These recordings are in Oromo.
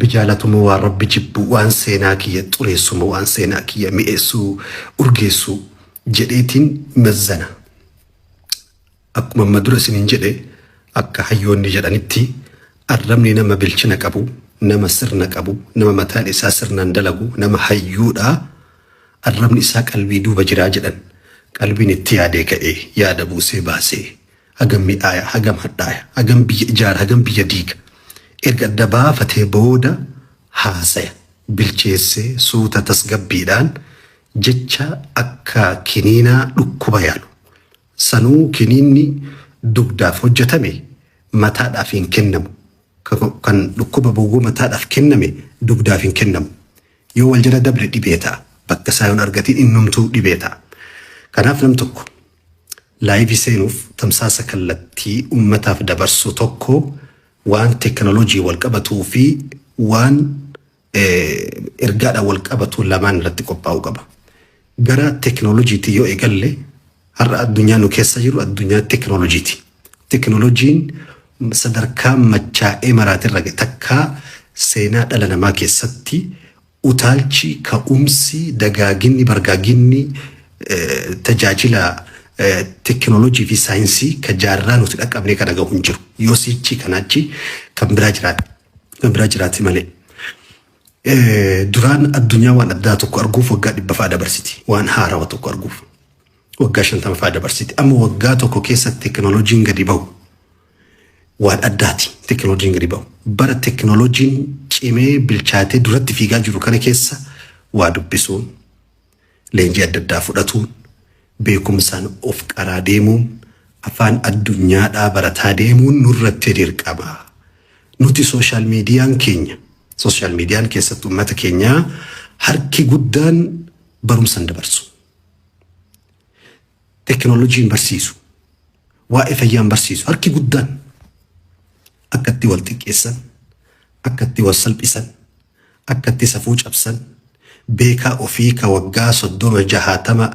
Rabbi jaalatu moo waan Rabbi jibbu, waan seenaa kiyya xureessu moo waan seenaa kiyya mi'eessu, urgeessu jedheetiin mazzana. Akkuma amma dura isiniin jedhe akka hayyoonni jedhanitti arrabni nama bilchina qabu, nama sirna qabu, nama mataan isaa sirnaan dalagu, nama hayyuudha. Arrabni isaa qalbii duuba jiraa jedhan. Qalbiin itti yaadee ka'ee yaada buusee baasee. hagam midhaaya, hagam hadhaaya, hagam biyya ijaara, hagam biyya diiga erga adda baafatee booda haasaya bilcheessee suuta tasgabbiidhaan jecha akka kiniinaa dhukkuba yaalu. Sanuu kiniinni dugdaaf hojjetame mataadhaaf hin kennamu. Kan dhukkuba bowwoo mataadhaaf kenname dugdaaf hin kennamu. Yoo wal jala dabre dhibee ta'a. Bakka isaa yoon argatiin innumtuu dhibee ta'a. Kanaaf nam tokko Laayivii seenuuf tamsaasa kallattii ummataaf dabarsuu tokko waan teeknolojiin wal qabatuu fi waan ergaadhaan wal qabatu lamaan irratti qophaa'uu qaba. Gara teeknolojiitii yoo eegalle har'a addunyaa nu keessa jiru addunyaa teeknolojiiti. Teeknolojiin sadarkaa machaa'ee maraatirra takkaa seenaa dhala namaa keessatti Utaalchi, ka'umsi, dagaaginni, bargaaginni tajaajila tekkinolojii fi saayinsii ka jaarraa nuti dhaqqabnee kana gahu hin jiru. Yoo siichii kana achi kan biraa jiraate, kan biraa jiraate malee. Duraan addunyaa waan addaa tokko arguuf waggaa dhibba fa'aa dabarsiti. Waan haarawa tokko arguuf waggaa shantama fa'aa dabarsiti. Amma waggaa tokko keessatti tekkinolojiin gadi bahu. waan addaati teknolojiin gadi ba'u. Bara teknolojiin cimee bilchaatee duratti fiigaa jiru kana keessa waa dubbisuun, leenjii adda addaa fudhatuun, beekumsaan of qaraa deemuun, afaan addunyaadhaa barataa deemuun nurratti dirqama. Nuti sooshaal miidiyaan keenya, sooshaal miidiyaan keessatti uummata keenyaa harki guddaan barumsa hin dabarsu. tekinooloojiin barsiisu, waa'ee fayyaan barsiisu harki guddaan akka itti wal xiqqeessan, akka itti wal salphisan, akka itti safuu cabsan, beekaa ofii ka waggaa soddoma jahaatama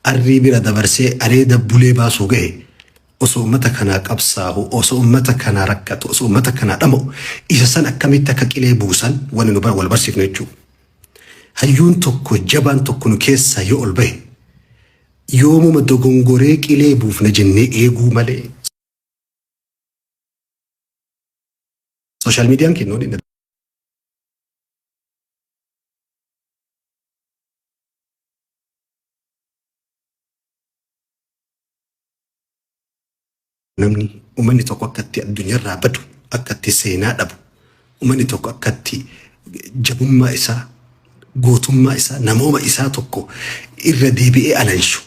arrii bira dabarsee areeda bulee baasuu ga'e osoo ummata kanaa qabsaahu, osoo ummata kanaa rakkatu, osoo ummata kanaa dhama'u isa san akkamitti akka qilee buusan wani nu wal barsiifnu jechuudha. Hayyuun tokko jabaan tokko nu keessaa yoo ol bahe Yoomuma dogongoree qilee buufna jennee eeguu malee sooshaal miidiyaan keenya waliin Namni uummanni tokko akka itti addunyaarraa badu, akka itti seenaa dhabu, uummanni tokko akka itti jabummaa isaa, gootummaa isaa, namooma isaa tokko irra deebi'ee alanshu,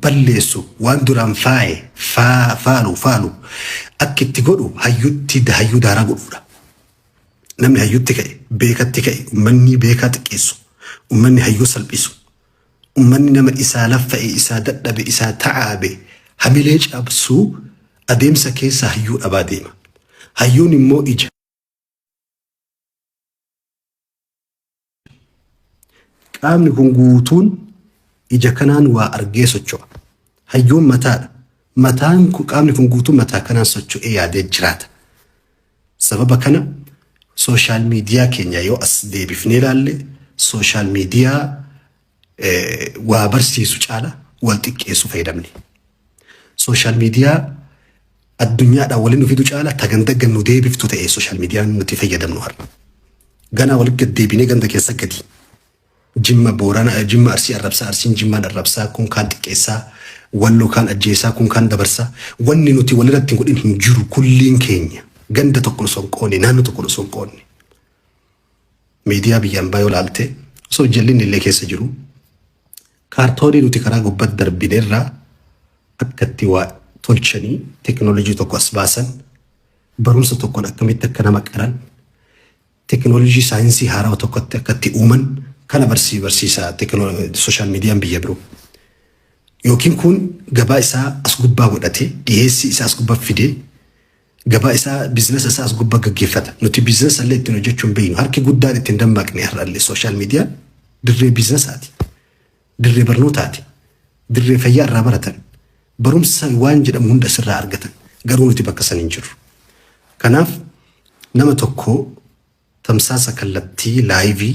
balleessu, waan duraan faaye, faa, faalu, faalu akka itti godhu hayyutti hayyuu daaraa godhuudha. Namni hayyutti ka'e, beekatti ka'e, uummanni beekaa xiqqeessu, uummanni hayyuu salphisu, Ummanni nama isaa laffa'e, isaa dadhabe, isaa ta'aabe hamilee cabsuu adeemsa keessa hayyuu dhabaa deema. Hayyuun immoo ija. Qaamni kun guutuun ija kanaan waa argee socho'a. Hayyuun mataadha. Mataan qaamni kun guutuun mataa kanaan socho'ee yaadee jiraata. Sababa kana sooshaal miidiyaa keenya yoo as deebifnee ilaalle sooshaal miidiyaa waa barsiisu caala wal xiqqeessu fayyadamne. Sooshaal miidiyaa addunyaadhaan waliin nu fidu caala ta ganda gad nu deebiftu ta'e sooshaal miidiyaan nuti fayyadamnu har'a. Ganaa walitti gad deebinee ganda keessa gadi Jimma Boorana Jimma Arsii arrabsaa Arsiin Jimmaan arrabsaa kun kaan xiqqeessaa Wallo kaan ajjeesaa kun kaan dabarsaa wanni nuti waliratti hin godhin hin jiru kulliin keenya ganda tokko osoo hin qoonne naannoo tokko osoo hin qoonne miidiyaa biyya ambaa yoo laalte osoo jallinni illee keessa jiru kaartoonii nuti karaa gubbatti darbine irraa akkatti waa tolchanii teknoolojii tokko as baasan barumsa tokkoon akkamitti akka nama qaran Tekinolojii saayinsii haarawa tokko itti akka itti uuman kan abarsii barsiisa sooshaal miidiyaan biyya biroo. Yookiin kun gabaa isaa as gubbaa godhatee dhiheessii isaa as gubba fidee gabaa isaa biizinasa isaa as gubba gaggeeffata. Nuti biizinasa illee ittiin hojjechuu hin beeknu. Harki guddaan ittiin dammaqne har'allee sooshaal miidiyaan dirree biizinasaati. dirree barnootaati, dirree fayyaa irraa baratan, barumsa waan jedhamu hunda asirraa argatan. Garuu nuti bakka san hin jirru. Kanaaf nama tokko tamsaasa kallattii laayivii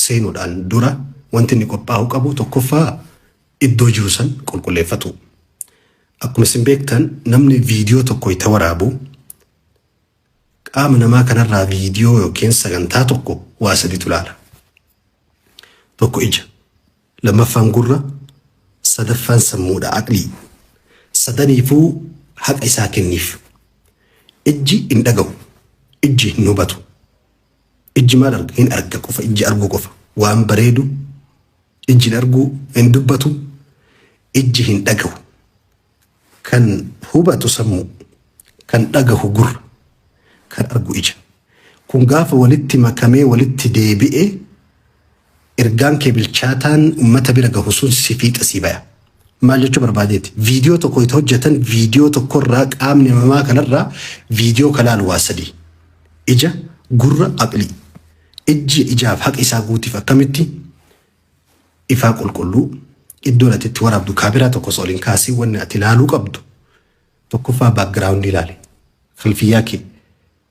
seenuudhaan dura wanti inni qophaa'uu qabu tokkoffaa iddoo jiru san qulqulleeffatu. Akkuma isin beektan namni viidiyoo tokko itti waraabu Qaama namaa kanarraa viidiyoo yookiin sagantaa tokko waa saditu laala. Tokko ija, lammaffaan gurra, sadaffaan sammuudha, aqlii. Sadaniifuu haqa isaa kenniif. Ijji hin dhagahu, ijji hin hubatu. Ijji maal arga? Hin arga qofa, ijji arguu qofa. Waan bareedu ijji hin arguu, hin dubbatu, ijji hin dhagahu. Kan hubatu sammuu, kan dhagahu gurra, kan argu ija. Kun gaafa walitti makamee walitti deebi'e ergaan kee bilchaataan ummata bira gahu sun si fiixa sii baya. Maal jechuu barbaadeeti? Viidiyoo tokko itti hojjetan viidiyoo tokkorraa qaamni namaa kanarraa viidiyoo ka laalu waa sadii. Ija, gurra, aqlii. Ijji ijaaf haqa isaa guutiif akkamitti? ifaa qulqulluu iddoon ati itti waraabdu kaameraa tokko osoo ol hin kaasiin wanni ati ilaaluu qabdu tokkoffaa baakgiraawundii ilaali kalfiyyaa kee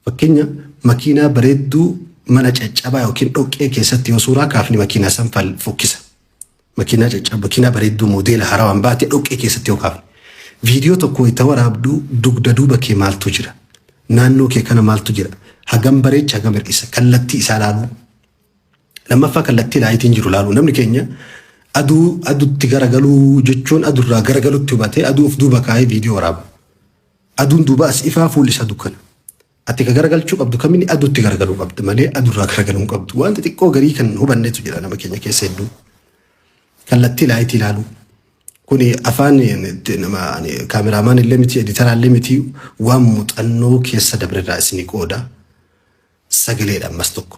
fakkeenya makiinaa bareedduu mana caccabaa yookiin dhoqqee keessatti yoo suuraa kaafne makiinaa san fal- fokkisa makiinaa caccabaa makiinaa bareedduu moodeela harawaan baate dhoqqee keessatti yoo kaafne viidiyoo tokko itti waraabdu dugda duuba kee maaltu jira naannoo kee kana maaltu jira hagam bareecha hagam hir'isa kallattii isaa ilaaluu Lammaffaa kallattii laayitiin jiru laaluu. Namni keenya aduu adutti garagaluu jechuun adurraa garagalutti hubatee aduu of duuba kaa'ee viidiyoo waraaba. Aduun duuba as ifaa fuulli isaa dukkana. Ati ka garagalchuu qabdu kamini adutti garagaluu qabda malee adurraa garagaluu hin qabdu. Wanta xiqqoo garii kan hin hubannetu jira nama keenya keessa hedduu. Kallattii laayitii laaluu. Kuni afaan eh, nama ani kaameraamaan illee miti editaraa illee miti waan muuxannoo keessa dabrerraa isinii qooda. sagaleedha ammas tokko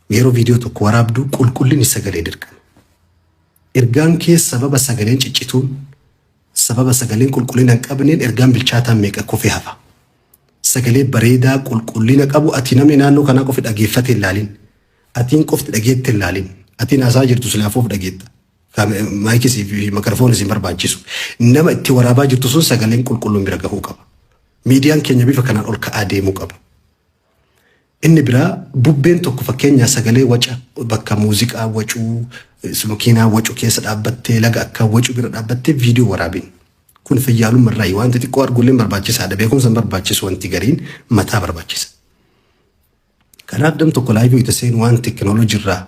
yeroo viidiyoo tokko waraabdu qulqullinni sagalee dirqama. Ergaan kee sababa sagaleen ciccituun sababa sagaleen qulqullina hin qabneen ergaan bilchaataan meeqa kufee hafa. Sagalee bareedaa qulqullina qabu ati namni naannoo kanaa qofi dhageeffate hin laalin. Atiin qofti dhageette hin laalin. Atiin haasaa jirtu silaafuuf dhageetta. Maayikis fi makarafoon isin barbaachisu. Nama itti waraabaa jirtu sun sagaleen qulqulluun bira gahuu qaba. Miidiyaan keenya bifa kanaan ol ka'aa deemuu qaba. Inni biraa bubbeen tokko fakkeenyaa sagalee waca bakka muuziqaa wacuu s- makiinaa wacu keessa dhaabbattee laga akka wacu bira dhaabbattee viidiyoo waraabin. Kun fayyaalumma irraa waan xixiqqoo arguulleen barbaachisaadha. Beekumsa hin barbaachisu wanti gariin mataa barbaachisa. Kanaaf dam tokko laayivii wayita seenu waan tekinooloojii irraa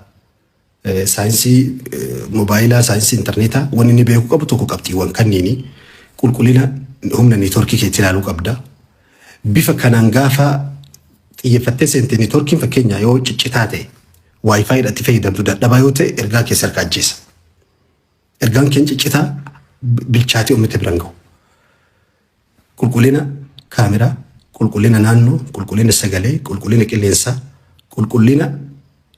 eh, saayinsii eh, moobaayilaa, saayinsii intarneetaa waan inni beekuu qabu tokko qabxiiwwan kanniini qulqullina humna neetworkii keetti ilaaluu qabda. Bifa kanaan gaafa xiyyeeffattee seente neetworkiin fakkeenyaa yoo ciccitaa ta'e waayifaayi irratti fayyadamtu dadhabaa yoo ta'e ergaa keessa harka ajjeesa. Ergaan keenya ciccitaa bilchaatee uummata biraan gahu. Qulqullina kaameraa, qulqullina naannoo, qulqullina sagalee, qulqullina qilleensaa, qulqullina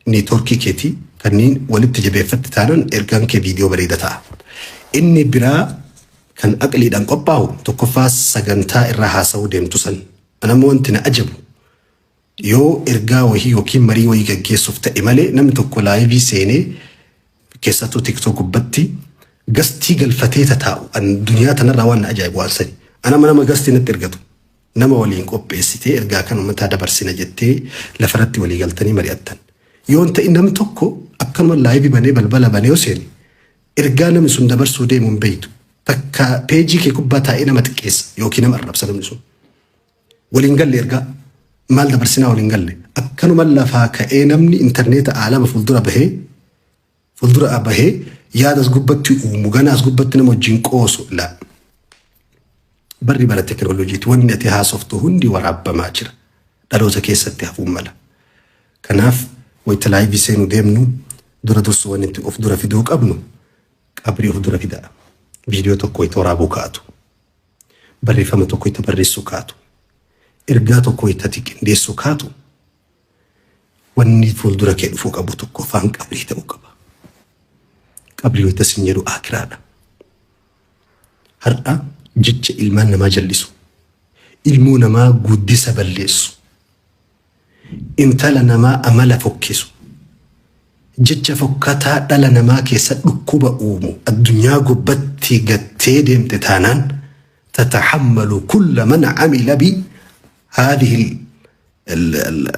neetworkii keetii kanneen walitti jabeeffatte taanan ergaan kee viidiyoo bareeda ta'a. Inni biraa kan aqliidhaan qophaa'u tokkoffaa sagantaa irra haasa'uu deemtu san. Anammoo wanti na ajabu Yoo ergaa wayii yookiin marii wayii gaggeessuuf ta'e malee namni tokko laayivii seenee keessattuu tiktok gubbatti gastii galfatee tataa'u an duniyaa tanarraa waan na ajaa'ibu waan sani. An amma nama gastii natti ergatu nama waliin qopheessitee ergaa kan ummataa dabarsina jettee lafarratti walii galtanii mari'attan. Yoo hin ta'in namni tokko akkanuma laayivii banee balbala banee yoo seene ergaa namni sun dabarsuu deemu hin beektu. Takka peejii kee gubbaa taa'ee nama xiqqeessa yookiin nama arrabsa namni sun. Wal hin galle ergaa maal dabarsinaa wal hin galle akkanuma lafaa ka'ee namni intarneeta aalama fuuldura bahee fuuldura bahee yaada as gubbatti uumu ganaa as gubbatti nama wajjin qoosu la barri bara tekinooloojiiti wanni ati haasoftu hundi waraabbamaa jira dhaloota keessatti hafuun mala kanaaf wayita laayivii seenu deemnu dura dursu wanni itti of dura fiduu qabnu qabrii of dura fidaa viidiyoo tokko wayita waraabuu kaa'atu. barreeffama tokko itti barreessuu kaatu, ergaa tokko itti ati qindeessuu kaatu wanni fuuldura kee dhufuu qabu tokko afaan qabrii ta'uu qaba. Qabrii wayita sin jedhu aakiraadha. Har'a jecha ilmaan namaa jallisu, ilmoo namaa guddisa balleessu, Intala namaa amala fokkisu, jecha fokkataa dhala namaa keessa dhukkuba uumu addunyaa gubbatti gattee deemte taanaan tatahammalu kulla man amila bi haadhihi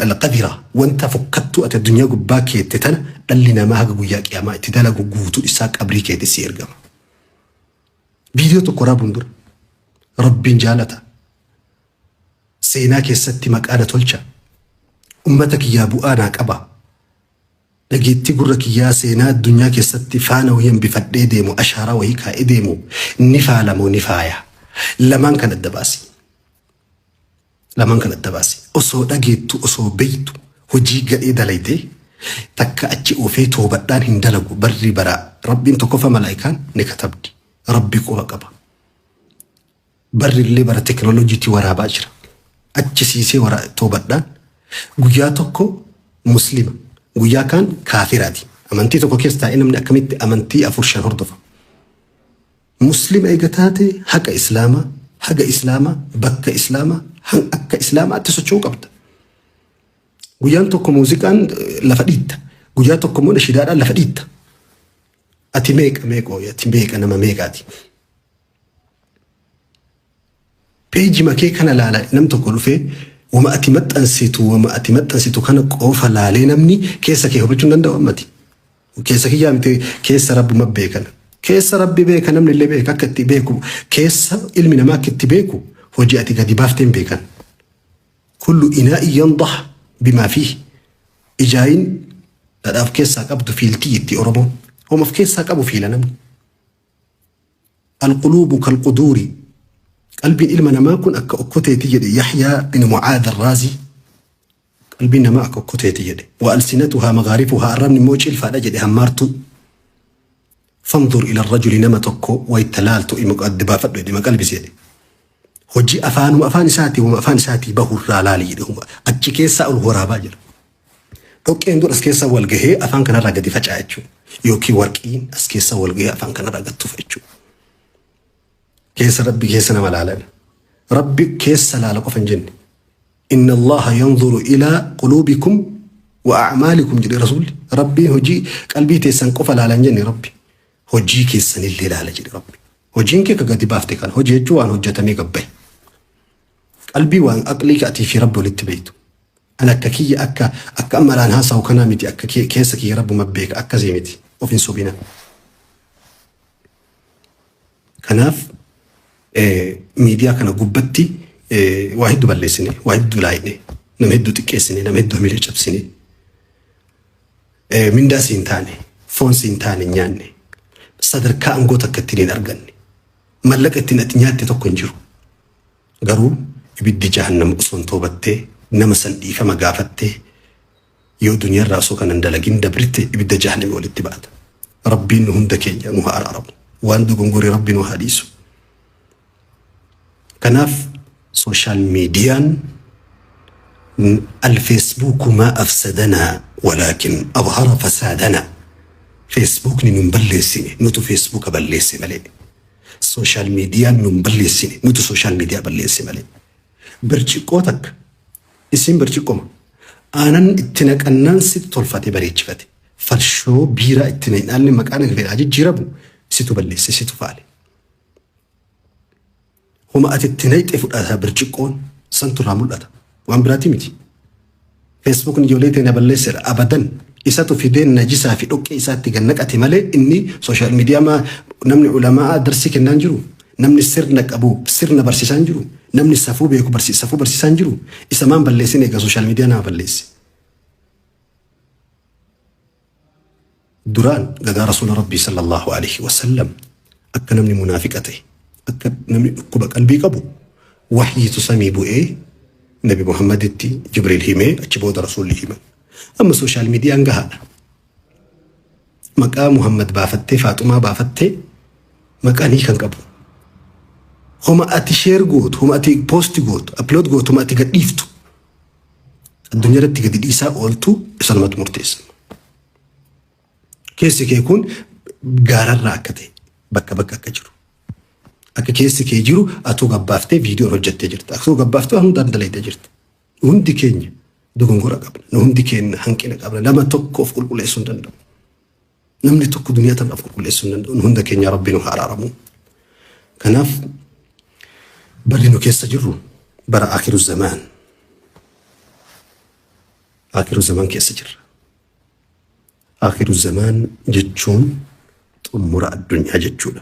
alqadira wanta fokkattuu ati addunyaa gubbaa keette tana dhalli namaa haga guyyaa qiyaamaa itti dalagu guutuu isaa qabrii keetti si ergama. Viidiyoo tokko raabuun dura rabbiin jaalata. Seenaa keessatti maqaa na tolcha. Ummata kiyyaa bu'aa naa qaba. Dhageettii gurra kiyyaa seenaa addunyaa keessatti faana wahii hambifadhee deemu, ashaaraa wahii kaa'ee deemu ni faala moo ni faaya? Lamaan kan adda baasi. Lamaan kan adda baasi. Osoo dhageettu, osoo beektu, hojii gadhee dalaydee takka achi oofee toobadhaan hin dalagu barri baraa. Rabbiin tokkoffaa malaa'ikaan ni katabdi. Rabbi quba qaba. Barri illee bara teknolojiitii waraabaa jira. Achisiisee wara toobadhaan guyyaa tokko muslima guyyaa kaan kaafiraati. Amantii tokko keessa taa'ee namni akkamitti amantii afur shan hordofa. Muslima eega taate haqa islaamaa, haga islaamaa, bakka islaamaa, han- akka islaamaatti socho'uu qabda. Guyyaan tokko muuziqaan eh, lafa dhiitta. Guyyaa tokko immoo nashidaadhaan lafa dhiitta. Ati meeqa meeqoo ati meeqa nama meeqaati. Peeji makee kana laala nam tokko dhufee wama ati maxxansitu wama ati maxxansitu kana qofa laalee namni keessa kee hubachuu hin danda'u ammati. Keessa kiyyaa miti keessa rabbuma beekana. Keessa rabbi beeka namni illee beeka akka itti beeku keessa ilmi namaa akka itti beeku hojii ati gadi baafteen beekan. Kullu inaa iyyandah bimaa fi ijaayin dhadhaaf keessaa qabdu fiiltii itti Oromoon. Homa of keessaa qabu fiila namni. Al-quluubu kal-quduuri, Qalbiin ilma namaa kun akka okkoteeti jedhe Yahyaa bin Mu'aadh Al-Raazii, Qalbiin namaa akka okkoteeti jedhe. Wa alsinatuhaa maghaarifuhaa, Arrabni immoo cilfaadha jedhe, hammaartuu. Fanzur ila rajuli nama tokko wayta laaltu ima adda baafadhu jedhe, ima qalbisi jedhe. Hojii afaanuma afaan isaatii, wama afaan isaatii bahu irraa laali jedhe. Achi keessaa ol waraabaa jedha. Dhoqqeen kun as keessa wal gahee afaan kanarraa gadi faca'a jechuudha. Yookiin warqiin as keessa wal gahee afaan kanarraa gad tufa jechuudha. Keessa rabbi keessa nama laalan. Rabbi keessa laala qofa hin jenne. Inna Allaha yanzuru ilaa quluubikum wa a'maalikum jedhe rasuulli. Rabbiin hojii qalbii teessan qofa laala hin jenne rabbi. Hojii keessanillee laala jedhe rabbi. Hojiin kee ka gadi baafte kana hojii jechuun waan hojjetamee gabbaye. Qalbii waan aqlii ati fi rabbi walitti beektu. An akka kiyya akka akka amma iraan haasawu kanaa miti akka ke- keessa kiyya rabbuma beeka akkasii miti of hin sobina. Kanaaf eh, miidiyaa kana gubbatti eh, waa hedduu balleessine waa hedduu laayine nama hedduu xiqqeessine nama hedduu hamilee cabsine eh, mindaa siin taane foon siin taane hin nyaanne sadarkaa aangoo takka ittiin hin arganne mallaqa ittiin ati nyaatte tokko hin jiru. Garuu ibiddi jahannam osoon toobattee nama san dhiifama gaafattee yoo duniyarraa osoo kana hin dalagin dabrte ibidda jahanami walitti baata. Rabbiin nu hunda keenya nu haa araaramu. Waan dogongore Rabbi nu haa dhiisu. Kanaaf sooshaal miidiyaan alfeesbuuku maa afsadanaa walaakin adhara fasaadanaa feesbuukni nun balleessine nutu feesbuuka balleesse malee. Social media nun balleessine nutu social media balleesse malee. Birciqqoo takka isin birciqqoma aanan itti naqannaan situ tolfate bareechifate farshoo biiraa itti naqnaan maqaan irraa jijjiiramu situ balleesse situ faale. Homa ati itti naqxe fudhata birciqqoon santu irraa mul'ata waan biraati miti. Facebookn ijolee tee na balleessera abadan isatu fidee najisaa fi dhoqqee isaatti gad naqate malee inni social media maa namni ulama'aa darsii kennaan jiru namni sirna qabu sirna barsiisaan jiru namni safuu beeku barsi safuu barsiisaan jiru isa maan balleessin eega social media nama balleessi. duraan gadaa rasuula rabbii sallallahu alaihi wasallam akka namni munaafiqa ta'e akka namni dhukkuba qalbii qabu wahyiitu samii bu'ee nabi muhammaditti jibriil himee achi booda rasuulli himan amma sooshaal miidiyaan gahaadha maqaa muhammad baafattee faaxumaa baafattee maqaan hiikan qabu homa ati sheer gootu homa ati poosti gootu aplood gootu homa ati gadhiiftu addunyaa irratti gadi dhiisaa ooltu isanumatu murteessa. Keessi kee kun gaararraa akka ta'e bakka bakka akka jiru. Akka keessi kee jiru atuu gabbaaftee viidiyoo hojjettee jirta. Atuu gabbaaftee waan hundaan dalaydee jirta. Hundi keenya dogongora qabna. Hundi keenya hanqina qabna. Nama tokkoof qulqulleessuu hin danda'u. Namni tokko duniyaa tanaf qulqulleessuu hin danda'u. Hunda keenya Rabbi nu haa araaramu. Kanaaf barri nu keessa jirru bara akiru zamaan. Akiru zamaan keessa jirra. Akiru zamaan jechuun xumura addunyaa jechuudha.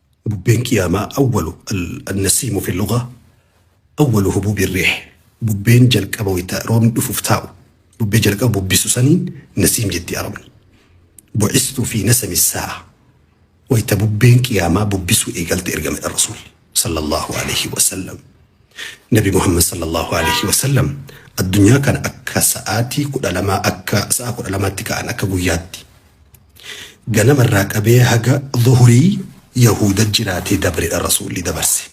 Bubbeen Qiyaamaa awwalu Al-Nasiimu fi Lugha awwalu hubuubi Riih Bubbeen jalqaba wayta roobni dhufuuf taa'u bubbee jalqaba bubbisu saniin Nasiim jetti Arabni. Bu'istu fi Nasami Saa'a wayta bubbeen Qiyaamaa bubbisuu eegalte ergamadhan Rasuulli sallallahu alayhi wa sallam. Nabi Muhammad sallallahu alayhi wa sallam addunyaa kana akka sa'aatii kudha lamaa akka sa'a kudha lamaatti ka'an akka guyyaatti Ganama irraa qabee haga zuhurii Yahuuda jiraatee dabredha Rasuulli dabarse.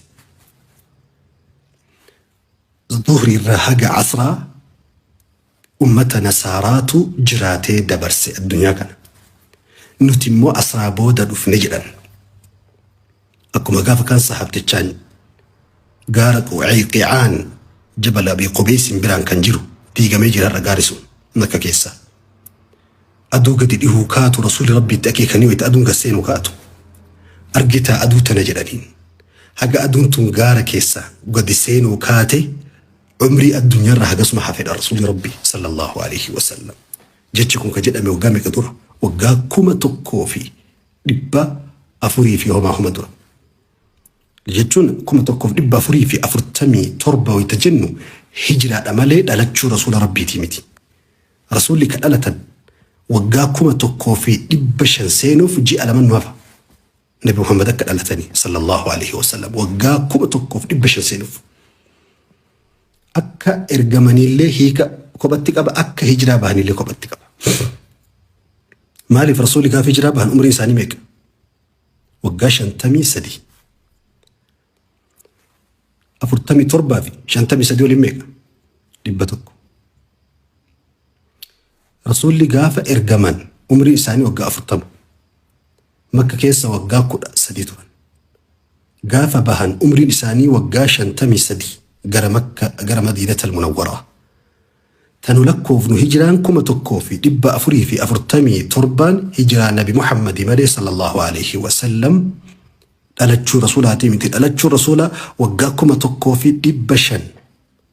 Zuhrii irraa haga asraa ummata nasaaraatu jiraatee dabarse addunyaa kana. Nuti immoo asraa booda dhufne jedhan. Akkuma gaafa kan sahaabtichaan gaara Quucayqiicaan jabala Abii Qubeeysiin biraan kan jiru diigamee jira har'a gaari sun makka keessa. Aduu gadi dhihuu kaatu rasuulli rabbiitti akeekanii wayita aduun gad seenu kaatu. Argitaa aduu tana jedhaniin. Haga aduun tun gaara keessa gadi seenuu kaate umrii addunyaarra hagasuma hafedha rasuulli rabbi sallallahu alaihi wasallam. Jechi kun ka jedhame waggaa meeqa dura? Waggaa kuma tokkoo fi dhibba afurii fi homaa homa tura. Jechuun kuma tokkoof dhibba afurii fi afurtamii torba wayita jennu hijiraadha malee dhalachuu rasuula rabbiitii miti. Rasuulli ka dhalatan waggaa kuma tokkoo fi dhibba shan seenuuf ji'a lama nu hafa. Nabi Muhammad akka dhalatanii sallallahu alaihi wasallam waggaa kuma tokkoof dhibba shan seenuuf. Akka ergamaniillee hiika kophatti qaba, akka hijiraa bahaniillee kophatti qaba. Maaliif rasuulli gaafa hijiraa bahan umriin isaanii meeqa? Waggaa shantamii sadii. Afurtamii torbaa fi shantamii sadii waliin meeqa? Dhibba tokko. Rasuulli gaafa ergaman umriin isaanii waggaa 40. Makka keessa waggaa 13 turan. Gaafa bahan umriin isaanii waggaa 53 gara Makka gara Madiinatal Munawwaraa. Tanu lakkoofnu hijiraan 1447 hijiraa Nabi Muhammadi malee sallallahu alaihi wasallam dhalachuu rasuulaatii miti dhalachuun rasuula waggaa 1500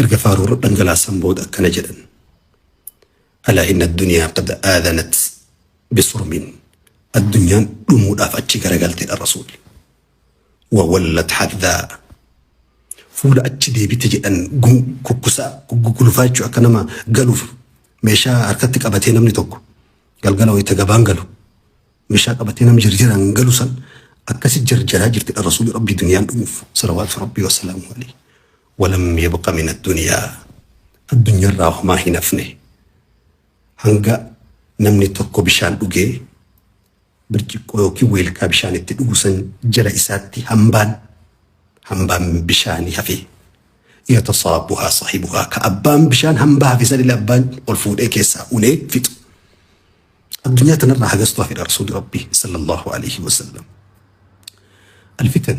Erga faaruu irra dhangalaasan booda akkana jedhan, Alaa inna addunyaa qad aadanat bisurmin Addunyaan dhumuudhaaf achi garagalte dha Rasuulli. Wa wallat haddaa Fuula achi deebite jedhan gun kukkusaa gugulufaa jechuun akka nama galuuf meeshaa harkatti qabatee namni tokko galgala wayita gabaan galu meeshaa qabatee nam jirjiraan galu san akkasi jarjaraa jirti dha Rasuulli Rabbii duniyaan dhumuuf salawaatu Rabbii wasalaamu alayhi. walam yabqa min addunyaa addunyarraa homaa hin hafne hanga namni tokko bishaan dhugee birciqqoo yookiin weelkaa bishaan itti dhugu san jala isaatti hambaan hambaan bishaanii hafe yatasaabuhaa saahibuhaa ka abbaan bishaan hambaa hafe sanillee abbaan ol fuudhee keessaa unee fixu addunyaa tanarraa hagastu hafedha rasuuli rabbii sallallahu alaihi wasallam alfitan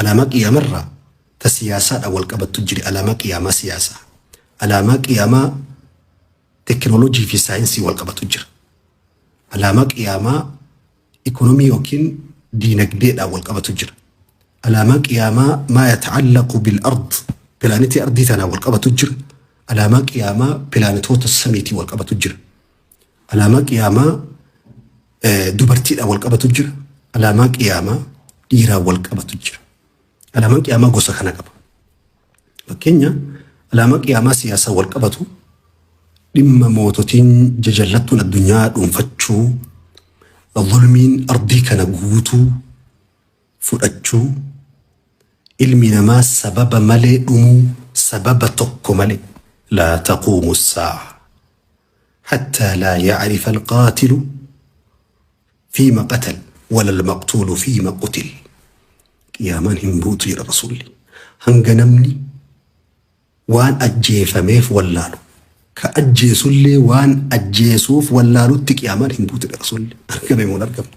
Alaamaa qiyaamarraa ta siyaasaadhaan wal qabattu jiri alaamaa qiyaamaa siyaasaa. Alaamaa qiyaamaa tekinooloojii fi saayinsii wal qabatu jira. Alaamaa qiyaamaa ikonomii yookiin diinagdeedhaan wal qabatu jira. Alaamaa qiyaamaa maa yata'allaqu bil ard pilaanetii ardii tanaan wal qabatu jira. Alaamaa qiyaamaa pilaanetoota samiitiin wal qabatu jira. Alaamaa qiyaamaa dubartiidhaan wal qabatu jira. Alaamaa qiyaamaa dhiiraan wal qabatu jira. Alaamaan qiyaamaa gosa kana qaba. Fakkeenya alaamaa qiyaamaa siyaasaan wal qabatu dhimma moototiin jajallattuun addunyaa dhuunfachuu, zulmiin ardii kana guutuu fudhachuu, ilmi namaa sababa malee dhumuu, sababa tokko malee, laa taquumu saa'a hattaa laa ya'rifa alqaatilu fiima qatal wala almaqtuulu fiima qutil, qiyaamaan hin buutu jedhan rasuulli hanga namni waan ajjeefameef wallaalu, ka ajjeesullee waan ajjeesuuf wallaalutti qiyaamaan hin buutu jedhan rasuulli, argame moo hin argamne?